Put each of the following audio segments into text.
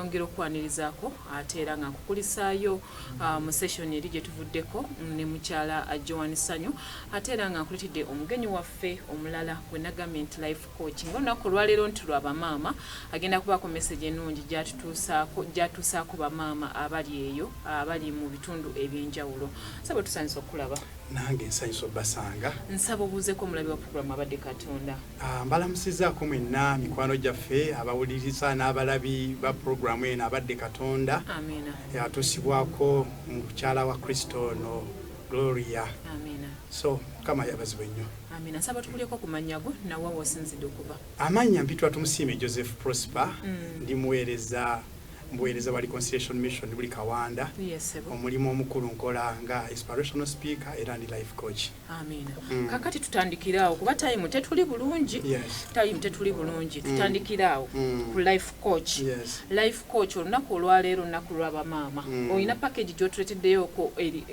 nongera okwanirizaako ate era nga nkukulisaayo uh, mu session eri gye tuvuddeko ne mukyala uh, joan sanyu ate era nga nkuletedde omugenyi waffe omulala gwe nagambye nti life Kooki ng'olunaku olwaleero nti lwa bamaama agenda kubaako mesegi ennungi gyatuusaako bamaama abali eyo abali mu bitundu eby'enjawulo nsaba tusanyusa okukulaba nange nsanyusa obbasanga nsaba obuuzeko omulabi wa puroguramu abadde katonda ah, mbalamusizaako mwenna mikwano gyaffe abawuliriza n'abalabi ba puroguramu eno abadde katonda amina atuusibwako mukyala wa kristo ono gloria amina so mukama yabazibwe nnyo Amina nsaba tukuleko ku mannya go na wa wosinzidde okuva. Amannya mpitwa tumusiime Joseph Prosper mm. ndi muweereza mbuweereza wa reconciliation mission buli kawanda yes, omulimu omukulu nkola nga inspirational speaker era ndi life coach amina mm. kakati tutandikiraawo kuba time tetuli bulungi yes. time tetuli bulungi mm. tutandikiraawo mm. ku life coach yes. life Coach olunaku olwaleero naku lwa bamaama mm. olina package gyotuleteddeyooko e,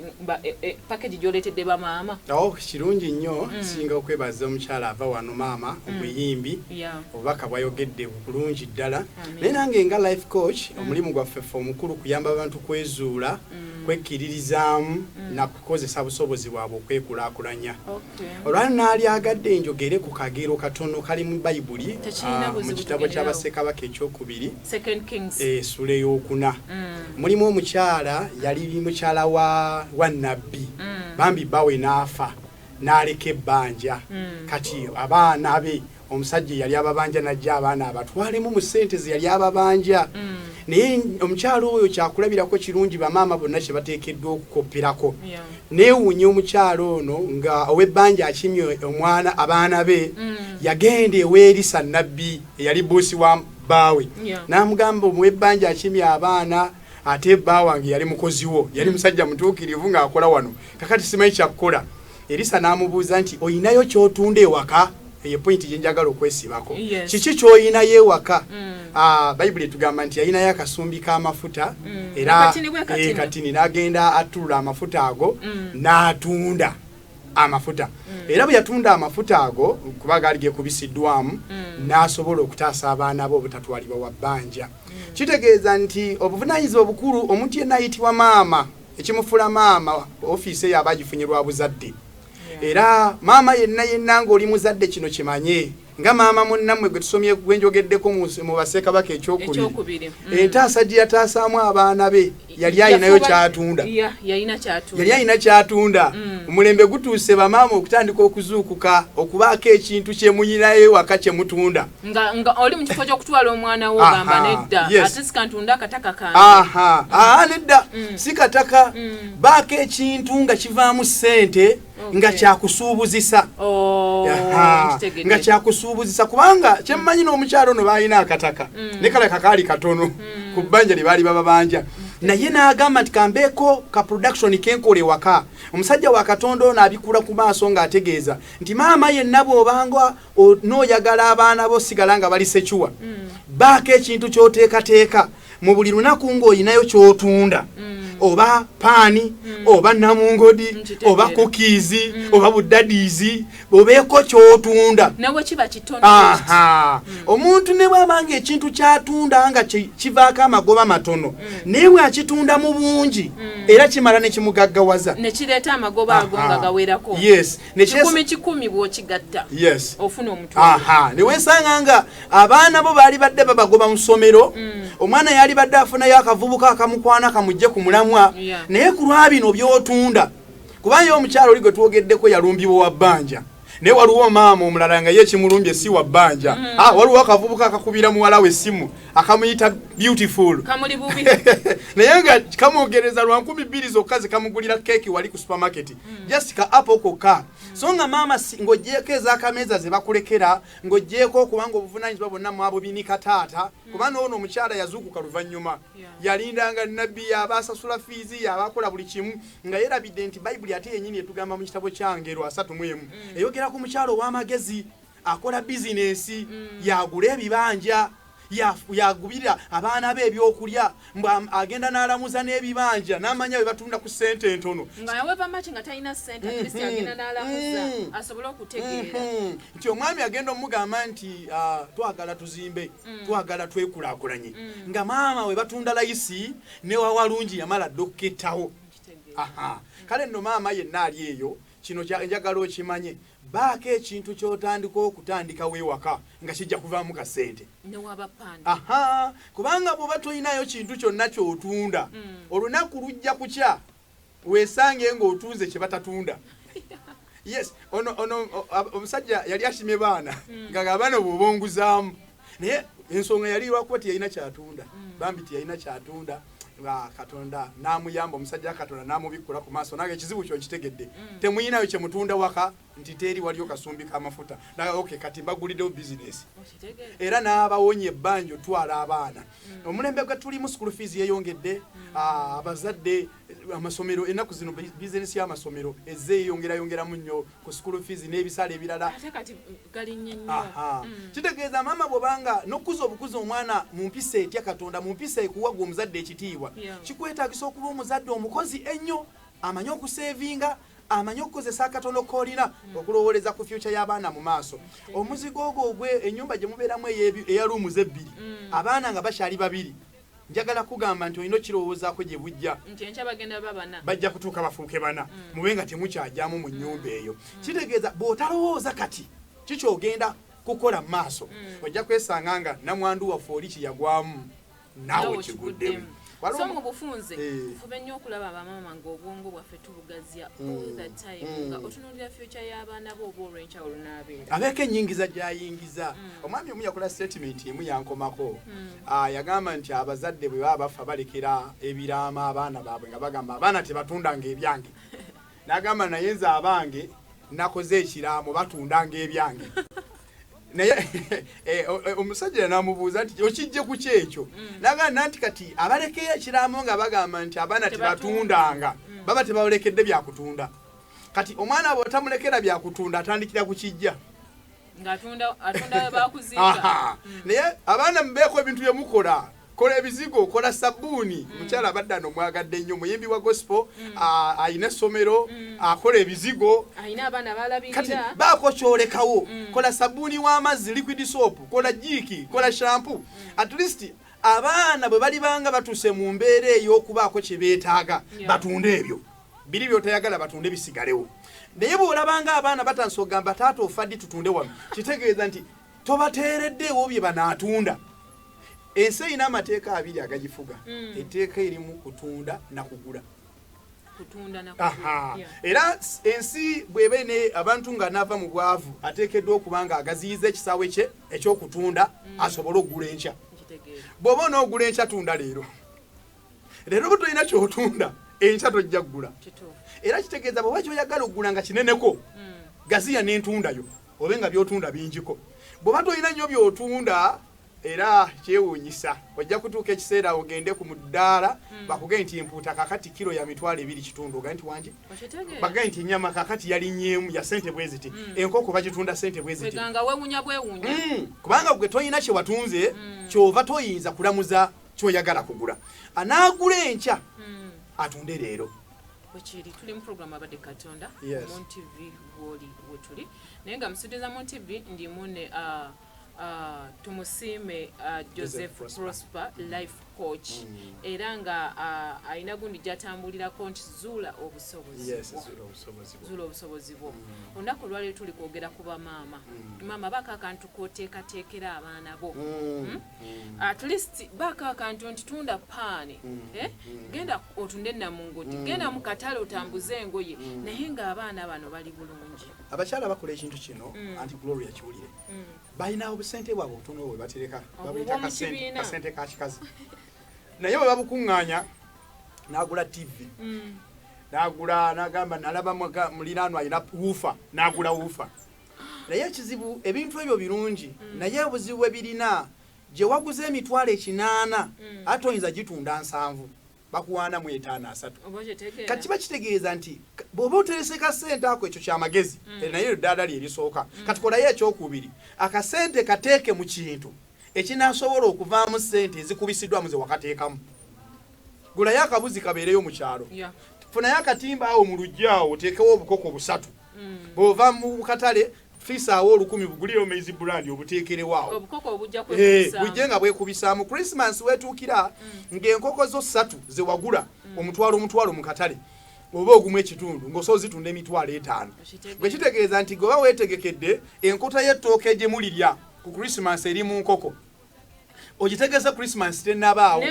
e, package gyoletedde bamaama awo oh, kirungi nnyo mm. singa okwebaza omukyala ava wano maama mm. omuyimbi obubaka bwayogedde bulungi ddala naye nange nga life coach mm. omulimu gwaffe fe omukulu kuyamba abantu kwezuula mm. kwekkiririzaamu mm. nakukozesa busobozi bwabwe okwekulakulanya okay. olwali naalyagadde njogere ku kagero katono kali mu bayibuli ah, mu kitabo ky'abasekabaka ekyokubiri esula eh, eyokuna mm. mulimu omukyala yali mukyala wa nabbi mm. bambi bawe n'afa n'aleka ebbanja mm. kati abaana be omusajja eyali ababanja najja abaana abatwalemu mu sente zeyali ababanja mm. naye omukyalo oyo kyakulabirako kirungi bamaama bonna kyebateekeddwa okukopperako neewuunya omukyalo ono nga ow'ebbanja akimye omwana abaana be mm. yagenda eweerisa nabbi eyali buusi wa baawe n'amugamba omuw'ebbanja akimye abaana ate bba wange yali mukozi wo yali mm. musajja mutuukirivu ng'akola wano kakati simanyi kyakukola Erisa n'amubuuza nti olinayo ky'otunda ewaka eyo pointi gye njagala okwesibako kiki ky'olinayo ewaka mm. ah, bayibuli etugamba nti yalinayo akasumbi k'amafuta mm. era eh, katini n'agenda atulula amafuta ago mm. n'atunda amafuta era bwe yatunda amafuta ago kuba gaali gekubisiddwamu n'asobola okutaasa abaana be obutatwalibwa wa bbanja kitegeeza nti obuvunaanyizibwa obukulu omuntu yenna ayitibwa maama ekimufula maama ofiisi eyo aba agifunye lwa buzadde era maama yenna yenna ng'oli muzadde kino kimanye nga maama munnammwe gwe tusomye gwe njogeddeko mu baseekabaka ekyokubiri mm. entaasa gye yataasaamu abaana be yali alinayo kyatunda yali alina kyatunda mm. omulembe gutuuse bamaama okutandika okuzuukuka okubaako ekintu kyemuyinayo ewaka kyemutunda nga nga oli mu kifo ky'okutwala omwana wo gamba nedda ate sikantunda akataka kange aa nedda mm. si kataka mm. baako ekintu nga kivaamu ssente nga kyakusuubuzisa oh, nga kyakusuubuzisa kubanga kyemmanyi n'omukyalo ono baalina akataka mm. ne kala kakaali katono ku bbanja lye baali bababanja naye n'agamba nti kambeeko ka production kenkola ewaka omusajja wa katonda ono abikula ku maaso ng'ategeeza nti maama yenna bw'obanga n'oyagala abaana bo sigala nga bali secuwa mm. baako ekintu kyoteekateeka mu buli lunaku ng'olinayo kyotunda mm. oba paani mm. oba namungodi oba kukiizi oba budadiizi obeeko kyotunda omuntu ne bwaba nga ekintu kyatunda nga kivaako amagoba matono naye bwakitunda mu bungi era kimala nekimugaggawaza yes kikumi kikumi bwokigatta yes. ofuna omutwalo newesanga nga abaana bo baali badde babagoba musomero mm. omwana yali badde afunayo akavubuka akamukwana kamujje ku mulamwa yeah. naye ku lwabino byotunda kubanga omukyalo oli gwe twogeddeko yalumbibwa wa bbanja naye waliwo maama omulala nga ye ekimulumbye si wa bbanja mm. ah, waliwo akavubuka akakubira muwala we essimu akamuyita beautiful naye nga kamwogereza lwa nkumi bbiri zokka zekamugulira keeki wali ku supermarket mm. just ka apo koka mm. so nga maama ng'ogyeko ezakameeza ze bakulekera ng'ogyeko okubanga obuvunanyizibwa bwonna mwabwe binika taata mm. kuba noono omukyala yazuukuka luvannyuma yalindanga nabbi yaba asasula fiizi yaba akola buli kimu nga yerabidde nti bayibuli ate yenyini etugamba mu kitabo kya ngero asatu mu emu eyogera ku mukyala ow'amagezi akola bizinensi mm. yagula ebibanja yagubira abaana be ebyokulya mbu agenda n'alamuza n'ebibanja n'amanya bwe batunda ku ssente entono nti omwami agenda omugamba nti ah, twagala tuzimbe mm. twagala twekulakulanye mm. nga maama we batunda layisi newawalungi yamala dda okukettawo kale nno maama yenna ali eyo kino njagala okimanye Baako ekintu kyotandika okutandikawo ewaka nga kijja kuvaamu ka ssente aha kubanga bw'oba tolinayo kintu kyonna ky'otunda mm. olunaku lujja kukya weesange ng'otunze kye batatunda yes ono ono omusajja yali asimye baana mm. nga abaana obwobonguzaamu naye ensonga yali lwakuba tiyalina kyatunda mm. bambi tiyalina kyatunda nga katonda namuyamba omusajja katonda namubikkula ku maaso nange ekizibu kyo nkitegedde mm. temuyinayo kyemutunda waka nti teri waliyo kasumbi kamafuta naye ok kati mbaguliddewo bizinesi era n'abawonya ebbanja otwala abaana mm. omulembe gwe tulimu school fees yeyongedde mm. ah, abazadde amasomero ennaku zino bizinesi y'amasomero ezze eyongerayongeramu nnyo ku school fees n'ebisale ebirala ate kati galinnye nnyo mm. kitegeeza maama bwobanga n'okukuza obukuza omwana mu mpisa etya katonda mu mpisa ekuwa gwe omuzadde ekitiibwa kikwetagisa okuba omuzadde omukozi ennyo amanyi okuseevinga amanyi okukozesa akatono kolina mm. okulowooleza ku fyuca y'abaana mu maaso omuzigo ogwo ogwe enyumba gye mubeeramu eya luumuza ebbiri mm. abaana nga bakyali babiri Njagala kugamba nti olina okirowoozaako gye bujja. Nti enkya bagenda baba bana. Bajja kutuuka bafuuke bana. Mm. Mube nga temukyagyamu mu nnyumba eyo. Mm. Kitegeeza bw'otalowooza kati kikyogenda kukola mu maaso. Mm. Ojja kwesanga nga namwandu waffe oli kye yagwamu naawe kiguddemu. So mu bufunze eh. tufube nnyo okulaba bamaama ng'obwongo bwaffe okukuvugazya mm. all the time mm. nga otunuulira future y'abaana bo oba olw'enkyawulo n'abeera abeeko ennyingiza gy'ayingiza mm. omwami omu yakola statement emu yankomako ah, yagamba nti abazadde bwe baba bafa balekera ebiraama abaana baabwe nga bagamba abaana tebatundanga ebyange n'agamba naye nze abange nakoze ekiraamo batundanga ebyange naye eh, eh, eh, omusajja namubuuza nti okijje ku kyekyo mm. naganda nti kati abalekeyo ekiraamo nga bagamba nti abaana tebatundanga mm. baba tebalekedde byakutunda kati omwana aba otamulekera byakutunda atandikira ku kijja mm. naye abaana mubeeko ebintu byemukola kola ebizigo kola sabbuuni mm. mukyala abadde ano mwagadde nnyo muyimbi wa gospel mm. alina essomero mm. akola ebizigo kati baako kyolekawo kola sabbuuni w'amazzi liquid soap kola jiiki kola shampu at least abaana bwe balibanga batuuse mu mbeera ey'okubaako kye beetaaga batunde ebyo biri byotayagala batunde bisigalewo naye bw'olabanga abaana batandisa ogamba taata ofaddi tutunde wano kitegeeza nti tobateereddeewo bye banaatunda ensi erina amateeka abiri agagifuga mm. etteeka erimu kutunda nakugula era ensi bweba ne abantu nga nava mu bwavu ateekeddwa okuba nga agaziyiza ekisaawe kye ekyokutunda mm. asobole okugula enkya bw'oba onoogula enkya tunda leero leero oba tolina kyotunda enkya tojja kugula era kitegeeza bweba kyoyagala okugula nga kineneko mm. gaziya nentundayo Obe nga by'otunda bingiko. Bw'oba tolina nnyo by'otunda era kyewuunyisa ojja kutuuka ekiseera ogende ku muddaala hmm. bakugee nti empuuta kakati kiro ya mitwalo ebiri kitundu oga nti wangi bagee nti enyama kakati yalinyeemu ya sente bwe ziti hmm. enkoko bagitunda sente bwe ziti hmm. kubanga gwe tolina kye watunze kyova toyinza kulamuza kyoyagala kugula anaagula enkya atunde leero bwekiri tuli muprogramu abadde katonda yes. muntv gwoli wetuli naye nga musudiza muntv ndimu ne uh, uh, tumusiime uh, joseph prosper mm. life coach mm. era nga uh, alina gundi gyatambulirako nti zuula obusobozizuula obusobozi bwo mm. olunaku olwaliro tuli kwogera ku bamaama mm. maama bakakantu koteekateekera abaana bo mm. Mm? Mm. at least baako akantu nti tunda paani mm. eh? mm. genda otunde namungoti genda mu katale otambuze engoye naye ng'abaana bano bali bulungi abakyala bakola ekintu kino anti gloria kiwulire balina obusente bwabwe obutono bwe batereka babuyita kasente ka kikazi naye bwe babukuŋŋaanya n'agula tivi n'agula n'agamba nalaba muliraano alina wuufa n'agula wuufa naye ekizibu ebintu ebyo birungi mm. naye obuzibu bwe birina gye waguza emitwalo ekinaana mm. ate oyinza gitunda nsanvu bakuwaanamu etaano asatu kati kiba kitegeeza nti bw'oba oterese kasente ako ekyo kyamagezi mm. eh, naye eddaala lye erisooka kati kolayo ekyokubiri akasente kateeke mu kintu ekinasobola okuvaamu sente ezikubisiddwamu ze wakateekamu gulayo akabuzi kabeereyo mu kyalo funayo akatimba awo mu luggi awo oteekewo obukoko busatu mm. bwova mu katale fisaawo olukumi bugulire omaizi brand obuteekerewaawo eh, bujje nga bwekubisaamu christmas wetuukira mm. ng'enkoko zo ssatu zewagula mm. omutwalo omutwalo mu katale oba ogumu ekitundu ng'osa ozitunda emitwalo etaano bwe kitegeeza nti gweoba weetegekedde enkota y'ettooke gye mulirya ku christmas eri mu nkoko ogitegese christmas tenabaawo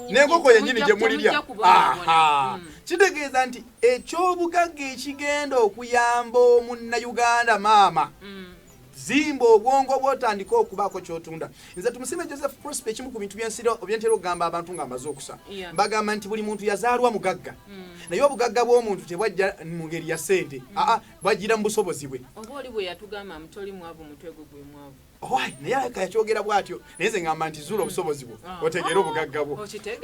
nenkoko kwenyini gyemulirya hmm. kitegeeza nti ekyobugagga ekigenda okuyamba omunnayuganda maama hmm. zimba obwongo bwotandika okubaako kyotunda nze tumusime joseph prospe ekimu ku bintu byensira obyentera okugamba abantu nga amaze okusa bagamba nti buli muntu yazaalwa mugagga hmm. naye obugagga bw'omuntu tebwajja mu ngeri ya sente aa bwajjira mu busobozi bwe owaayi naye alabika yakyogera bw'atyo naye nze ngamba nti zuula obusobozi bwo ah. otegeere obugagga bwo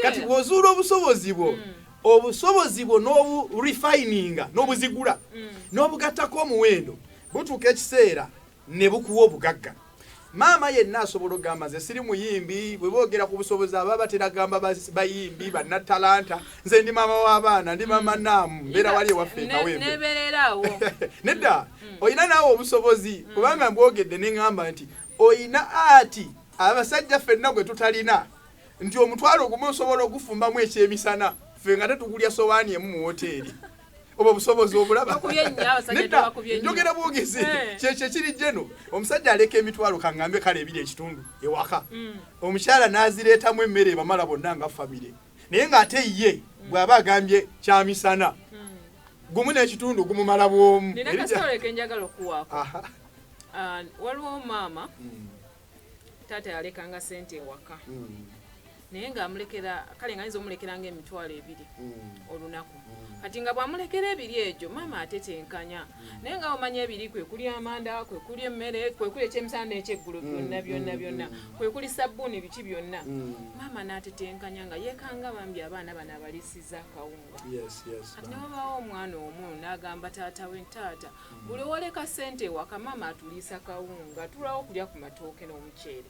kati bw'ozuula obusobozi bwo hmm. obusobozi bwo n'oburefininga n'obuzigula hmm. n'obugattako omuwendo butuuka ekiseera ne bukuwa obugagga maama yenna asobola okugamba nze siri muyimbi bwe boogera ku busobozi aba bateragamba bayimbi bannatalanta nze ndi maama w'abaana ndi maama mm. naamu mbeera wali ewaffe ekaweembe nedda mm. olina naawe obusobozi mm. kubanga mbwogedde ne ŋŋamba nti olina ati abasajja ffenna gwe tutalina nti omutwalo ogumu osobola ogufumbamu ekyemisana ffe nga tetugulya sowaani emu mu woteeri oba obusobozi obulaba nedda njogera bwogezi eh. kyekyo ekiri jeno omusajja aleka emitwalo kangambe kale ebiri ekitundu ewaka mm. omukyala n'azireetamu emmere ebamala bonna nga famire naye ng'ate ye bw'aba agambye kyamisana gumu n'ekitundu gumumala bwomu ah, waliwo maama hmm. taata yalekanga sente ewaka hmm. naye ngaamulekera kale nga ayinza omulekera nga emitwalo ebiri hmm. olunaku kati nga bwamulekera ebiri egyo maama atetenkanya naye nga omanya ebiri kwe kuli amanda kwe kuli emmere kwe kuli ekyemisana n'ekyeggulo mm, byonna byonna mm, byonna mm. kwe kuli sabbuuni biki byonna maama n'atetenkanya nga yeekanga bambi abaana bano abalisiza akawunga kati ne wabaawo omwana omu n'agamba taata we taata buli owoleka ssente ewaka maama atuliisa kawunga tulawo okulya ku matooke n'omuceere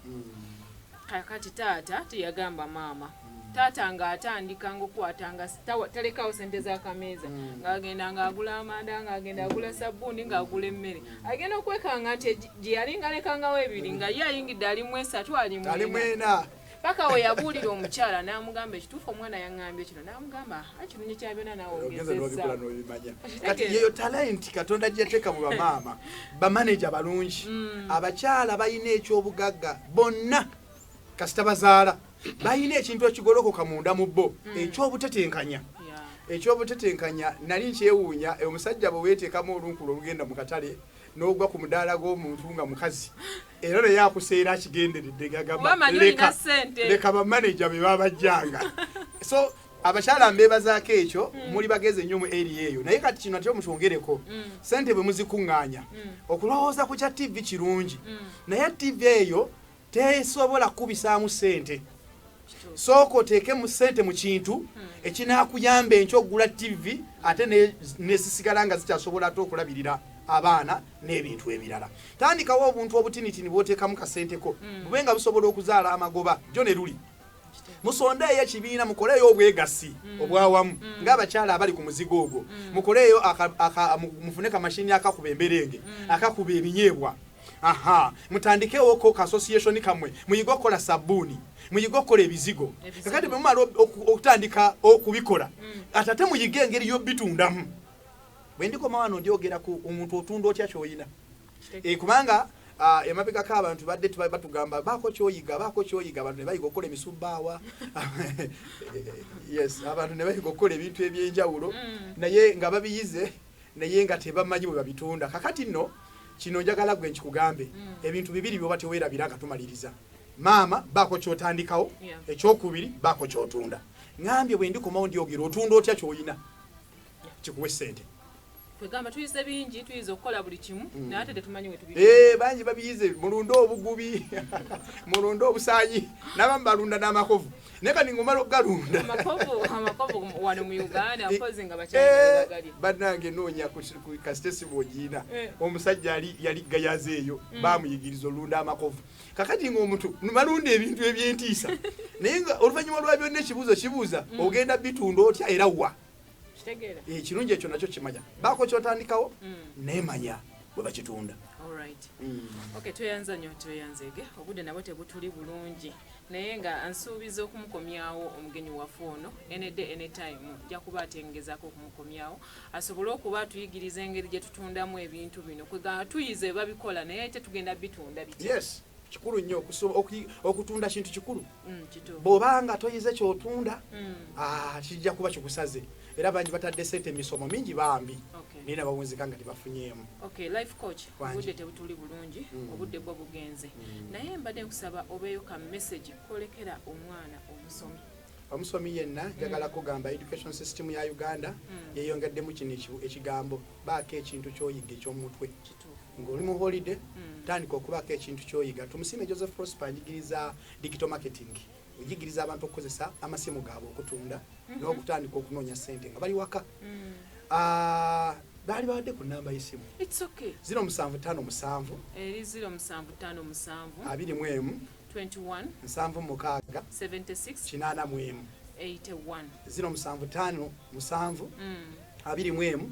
kakati taata teyagamba maama taata nga atandika ngaokukwata nga talekawo sente zakameeza hmm. ngaagenda ngaagula amanda ngaagenda agula sabbuuni ngaagula emmere agenda okwekanga nti gyeyali ngalekangawo ebiri nga ye ayingidde alimu esatu alimwena paka weyabuulira omukyala n'amugamba ekituufu omwana yaŋambye kino namugamba ekirungi kya byona nawongezeza kati yeyo talenti katonda gyeyateeka mu bamaama bamaneja balungi mm. abakyala balina ekyobugagga bonna kasita bazaala balina ekintu ekigolokoka munda mu bo mm. ekyobutetenkanya ekyobutetenkanya nali nkyewuunya omusajja bwe weteekamu olunkulo olugenda mu katale n'ogwa ku mudaala gw'omuntu nga mukazi era naye akuseera akigenderedde gagamleka leka bamaneja be babajjanga so abakyala mbebazaako ekyo mm. muli bageze nnyo mu eri eyo naye kati kino ate omukyongereko mm. sente bwe muzikuŋŋaanya mm. okulowooza ku kya ttivi kirungi naye ttivi eyo tesobola kukubisaamu ssente sooka oteekemu ssente mu kintu hmm. ekinaakuyamba enkya okugula ttivi ate nezisigala nga zikyasobola ate okulabirira abaana n'ebintu ebirala tandikawo obuntu obutinitini bwoteekamu kasenteko hmm. bube nga busobola okuzaala amagoba jo ne luli musondeeyo ekibiina mukoleeyo obwegassi hmm. obwawamu ngaabakyala abali ku muzigo ogwo mukoleeyo mufune kamashini akakuba emberenge akakuba ebinyeebwa aha mutandikewo ko association kamwe muyige okukola sabuni muyige okukola ebizigo kakati bwemumala okutandika okubikola mm. atate muyige engeri yobitundamu bwendikoma wano ndyogera ku omuntu otunda otya kyoyina eh, kubanga Ah, emabegako abantu badde batugamba baako kyoyiga baako kyoyiga abantu nebayiga okukola emisubbaawa yes abantu nebayiga okukola ebintu ebyenjawulo mm. naye nga babiyize naye nga tebamanyi bwe babitunda kakati nno kino njagala gwe nkikugambe mm. ebintu bibiri byoba tewerabira nga tumaliriza maama baako kyotandikawo ekyokubiri baako kyotunda ŋambye bwe ndikomawo ndyogera otunda otya kyoyina kikuwe sente kwegamba tuyize bingi tuyiza okukola buli kimu mm. naye ate tetumanyi wetubi eh, bangi babiyize mulunde obugubi mulunde obusanyi nabamu balunda n'amakovu naye kati ngomala okugalunda banange noonya kasite siba ogiina eh. omusajja yali gayaza eyo mm. bamuyigiriza olunda amakovu kakati ngaomuntu numalunda ebintu ebyentiisa naye nga oluvanyuma lwa byonna ekibuuzo kibuuza mm. ogenda bitunda otya era wa ekirungi eh, ekyo nakyo kimanya baako kyotandikawo mm. nemanya bwe bakitunda mm. tweyanza nyo tweyanzege obudde nabwo tebutuli bulungi naye nga nsuubiza okumukomyawo omugenyi waffe ono enedde anytime ja kuba atengezako okumukomyawo asobole okuba atuyigiriza engeri gye tutundamu ebintu bino kwegamba tuyize babikola naye tetugenda bitunda bit yes kikulu nnyo okutunda kintu kikulu mm, bw'oba nga toyize kyotunda mm. ah, kijja kuba kikusaze era bangi batadde sente emisomo mingi bambi naye nabawunzika nga tebafunyeemu obudde tebutuli bulungi mm. obudde bwo bugenze naye mbadde nkusaba obeeyo ka message kolekera omwana omusomi omusomi yenna mm. njagala kugamba education system ya uganda mm. yeyongeddemu kino ekigambo baako ekintu kyoyiga ekyomutwe ng'oli mu holiday mm. tandika okubaako ekintu kyoyiga tumusiime joseph prosper ajigiriza digital marketing ojigiriza abantu okukozesa amasimu gaabwe okutunda mm -hmm. n'okutandika okunoonya sente nga bali waka mm. uh, baali bawadde ku namba y'essimu ziro musanvu tano musanvu eri ziro musanvu tano musanvu abiri mu emu nsanvu mukaaga kinaana mu emu ziro musanvu tano musanvu mm. abiri mu emu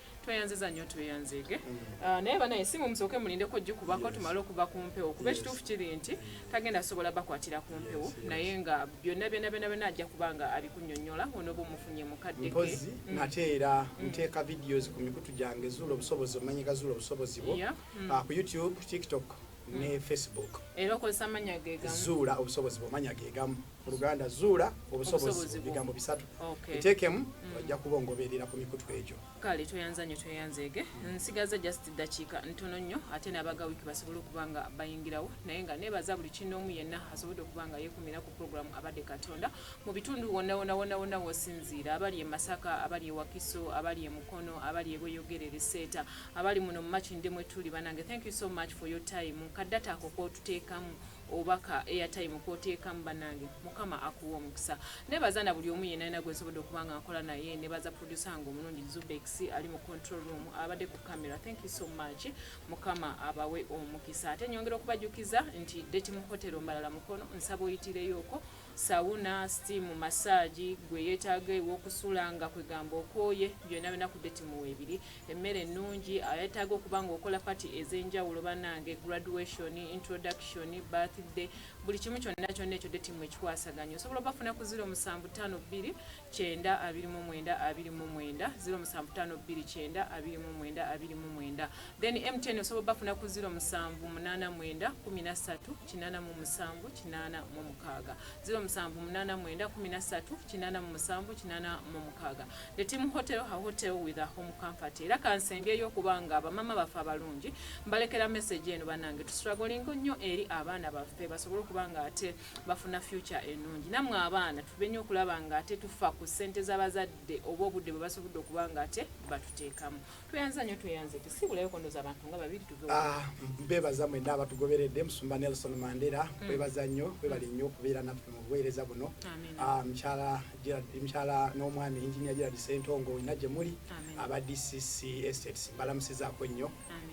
tweyanziza nnyo tweyanzege ah, naye banaye simu musooke mulindeko gikubako tumale okuva ku mpewo kuba ekituufu kiri nti tagenda sobola bakwatira ku mpewo naye nga byonna byonna byonna byonna ajja kuba nga abikunyonyola onoba omufunye mukaddeke mpozi mm. nate era mm. nteeka videos ku mikutu gyange zuula obusobozi omanyika zuula obusobozi bwo mm. ah, ku youtube tiktok ne facebook era okozesa amanya gegamu zuula obusobozi bwomanya gegamu mu luganda zuula obusobozi bigambo bisatu etekemu mm. ojja kuba ongoberera ku mikutu egyo kale tweyanza nyo tweyanzeege nsigaza just dakiika ntono nnyo ate nabaga wiki basobole okuba nga bayingirawo naye nga nebaza buli kinoomu yenna asobodde okuba nga yekumira ku programu abadde katonda mu bitundu wonawonawonawona wosinziira abali emasaka abali ewakiso abali emukono abali ebweyogerere seeta abali muno mumakindemu etuli banange thank you so much for your time kadata ako kotuteekamu oba ka airtime kotekamu banange mukama akuwa omukisa nebaza na buli omu yena yena gwensobodde okuba nga nkola naye nebaza producer nga omulungi zubex ali mu control room abadde ku camera thank you so much mukama abawe omukisa ate nyongera okubajukiza nti date mu hotel mbalala mukono nsaba oyitireyoko Sawuna, sitiimu, masaagi, gwe eyeetaaga ew'okusula nga kwegamba okooye byonna byonna ku deti mu weebiri, emmere ennungi, ayeetaaga okuba ng'okola pati ez'enjawulo bannange, graduation, introduction, birthday, buli kimu kyonna kyonna ekyo deti mu ekikwasaganya osobola obafuna ku ziro musanvu ttaano bbiri kyenda abiri mu mwenda abiri mu mwenda ziro musanvu ttaano bbiri kyenda abiri mu mwenda abiri mu mwenda then MTN osobola obafuna ku ziro musanvu munaana mwenda kkumi na ssatu kinana mu musanvu kinana mu mukaaga ziro musanvu munana mwenda kumi na ssatu kinana mu musanvu kinana mu mukaaga the team hotel ha hotel with a home comfort era kansembyeyyo okuba nga abamama baffe abalungi mbalekera message eno banange tustragolingo nnyo eri abaana baffe basobole okuba nga ate bafuna future enungi namwe abaana tube nnyo okulaba nga ate tufa ku ssente z'abazadde oba obudde bwe basobodde okuba nga ate batuteekamu tweyanza nyo tweyanze tusibulayo kondoza abantu nga babiri tuve ah mbebaza mwe ndaba tugoberede musumba Nelson Mandela mm. mbebaza nyo bebali nyo kubera na mu bwereza buno ah mchala jira mchala no mwami engineer jira disentongo inaje muri aba DCC estates bala msiza ko nyo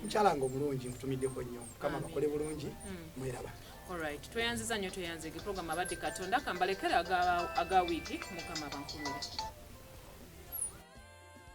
mchala ngo mulungi mtumide ko nyo kama bakole bulungi mm. mweraba Alright, tweyanziza nyo tweyanze ki program abadde katonda kambalekera aga aga wiki mukama bankumira.